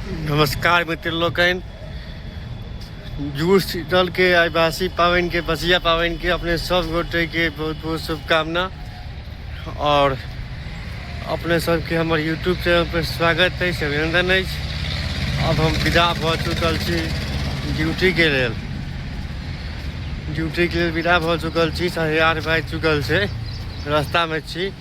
नमस्कार मित्र लोकनि जूस दल के आदिवासी पावनि के बसिया पावनि के अपने सब गोटे के बहुत बहुत शुभकामना और अपने सबके हमर यूट्यूब चैनल पर स्वागत है अभिनंदन है अब हम विदा भऽ चुकल छी ड्यूटी के लेल ड्यूटी के लेल विदा भऽ चुकल छी साढ़े आठ बाजि चुकल छै रास्ता में छी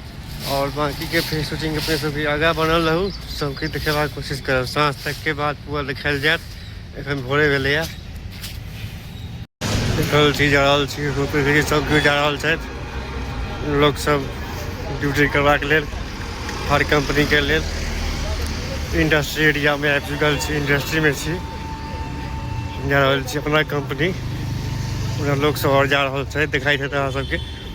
और बाकी के फिर शूटिंग अपने सब आगा बनल रहू सबके देखेबा कोशिश करब साँझ तक के बाद पूरा देखायल जायत एखन भोरे भेले है देखल छी जा रहल छी रोपे सब केओ जा रहल छथि लोक सब ड्यूटी करबाक लेल हर कंपनी के लेल इंडस्ट्री एरिया में आबि चुकल छी इंडस्ट्री में छी जा रहल छी अपना कंपनी पूरा लोक सब और जा रहल छथि देखाई देत अहाँ सबके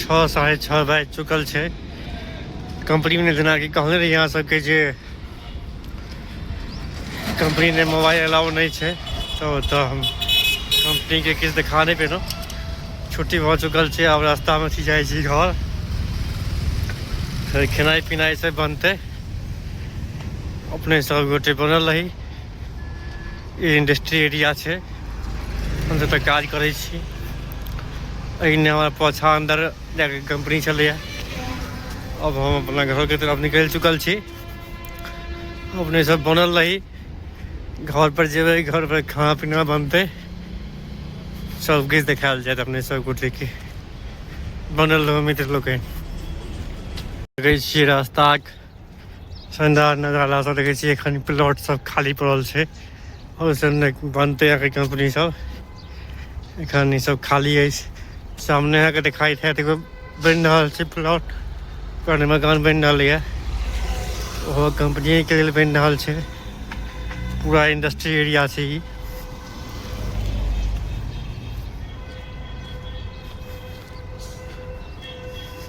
छओ साढ़े छओ बाजि चुकल छै कम्पनीमे जेनाकि कहने रही अहाँ सबके जे कम्पनीमे मोबाइल अलाउ नहि छै तऽ ओतऽ हम कम्पनीके किछु देखा नहि पेलहुँ छुट्टी भऽ चुकल छै आब रास्तामे छी जाइ छी घर फेर खेनाइ पिनाइ सब बनतै अपने सब गोटे बनल रही ई इंडस्ट्री एरिया छै हम जतऽ काज करै छी एहिने हमर पाछा अन्दर जाके कंपनी छलैए अब हम अपना घरके तरफ निकलि चुकल छी अपने सब बनल रही घर पर जेबै घर पर खाना पीना बनतै सब किछु देखायल जायत अपने सबगोटे के बनल रहू मित्र लोकनि देखै छियै रास्ताक शानदार नजारा सब देखै छियै एखन प्लॉट सब खाली पड़ल छै आओर सब ने बनतै अहाँके कंपनी सब एखन ई सब खाली अछि सामने अहाँके देखाइ हैत एगो बनि रहल छै प्लॉट ओकर मकान बनि रहल यऽ ओहो कंपनीके लेल बनि रहल छै पूरा इंडस्ट्री एरिया छै ई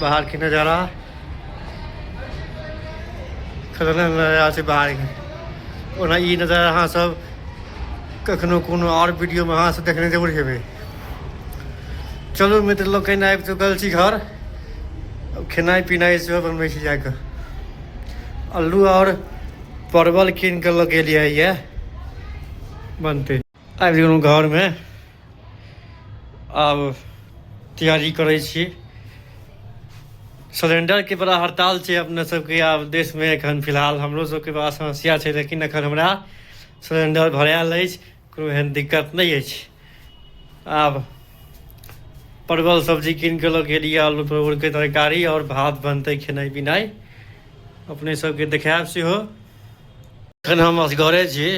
बाहर के नजारा खतरनाक नजारा छै बाहर के ओना ई नजारा अहाँ सब कखनो कोनो आओर वीडियोमे अहाँ सब देखने जरूर हेबै चलू मित्र लोग कहिना आबि चुकल छी घर अब खेनाइ पिनाइ सेहो बनबै छी जाकऽ अल्लू आओर परवल कीन कऽ लऽ गेलियै यए बनतै आबि गेलहुँ घरमे आब तैयारी करै छी सिलेंडरके बड़ा हड़ताल छै अपने सबके आब देशमे एखन फिलहाल हमरो सबके बड़ा समस्या छै लेकिन एखन हमरा सिलेंडर भरायल अछि कोनो एहन दिक्कत नहि अछि आब परवल सब्जी कीन कऽ लऽ गेली आलू परवलके तरकारी आओर भात बनतै खेनाइ पिनाइ अपने सबके देखायब सेहो एखन हम असगरे छी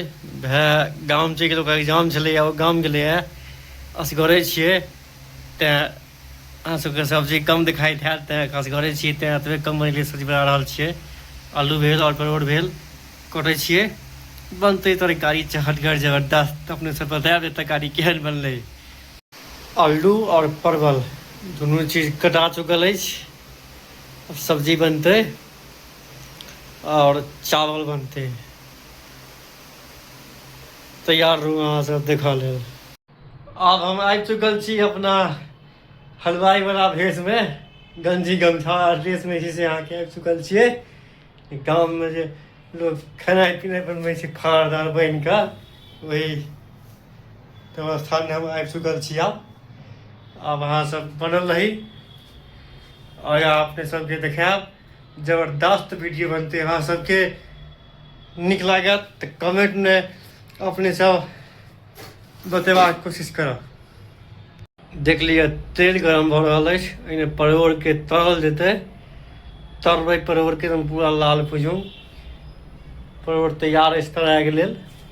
भए गाम चलि गेल ओकर एग्जाम छलैए ओ गाम गेलैए असगरे छियै तैँ अहाँ सभके सब्जी कम देखाइ हैत तैँ असगरे छी तैँ एतबे कम बनैले सब्जी बना रहल छियै आलू भेल आओर परोड़ भेल कटै छियै बनतै तरकारी चहटगर जबरदस्त अपने सब बतायब जे तरकारी केहन बनलै आलू आओर परवल दुनू चीज कटा चुकल अछि सब्जी बनतै आओर चावल बनतै तैयार रहू अहाँ सब देखऽ लेल आब हम आबि चुकल छी अपना हलवाई वाला भेष मे गंजी गमछा आर ड्रेस मे जे छै अहाँ के आबि चुकल छियै गाम मे जे लोग खेनाइ पिनाइ बनबै छै फाड़ दार बनि कऽ वही तऽ स्थान मे हम आबि चुकल छी आब आब अहाँ सब बनल रही आओर अपने सबके देखायब जबरदस्त वीडियो बनते अहाँ सबके नीक लागत तऽ कमेंटमे अपने सब बतेबाक कोशिश करब देख लिअ तेल गरम भऽ रहल अछि एहिमे परोड़के तरल जेतै तरबै परोड़के एकदम पूरा लाल भुजू परोड़ तैयार अछि तराइके लेल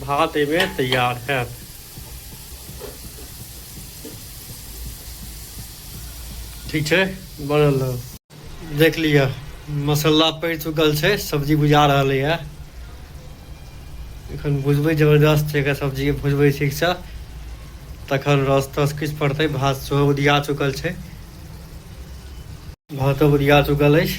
भात एहिमे तैयार है ठीक है बनल रह देख लिया मसाला पड़ चुकल है सब्जी बुझा रहा है एखन भुजबै जबरदस्त छै एकरा सब्जी भुजबै ठीकसँ तखन रस तस किछु पड़तै भात सेहो उदिया चुकल छै भातो उदिया चुकल अछि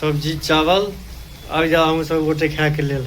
सब्जी चावल आबि जाउ अहूँ सब गोटे खायके लेल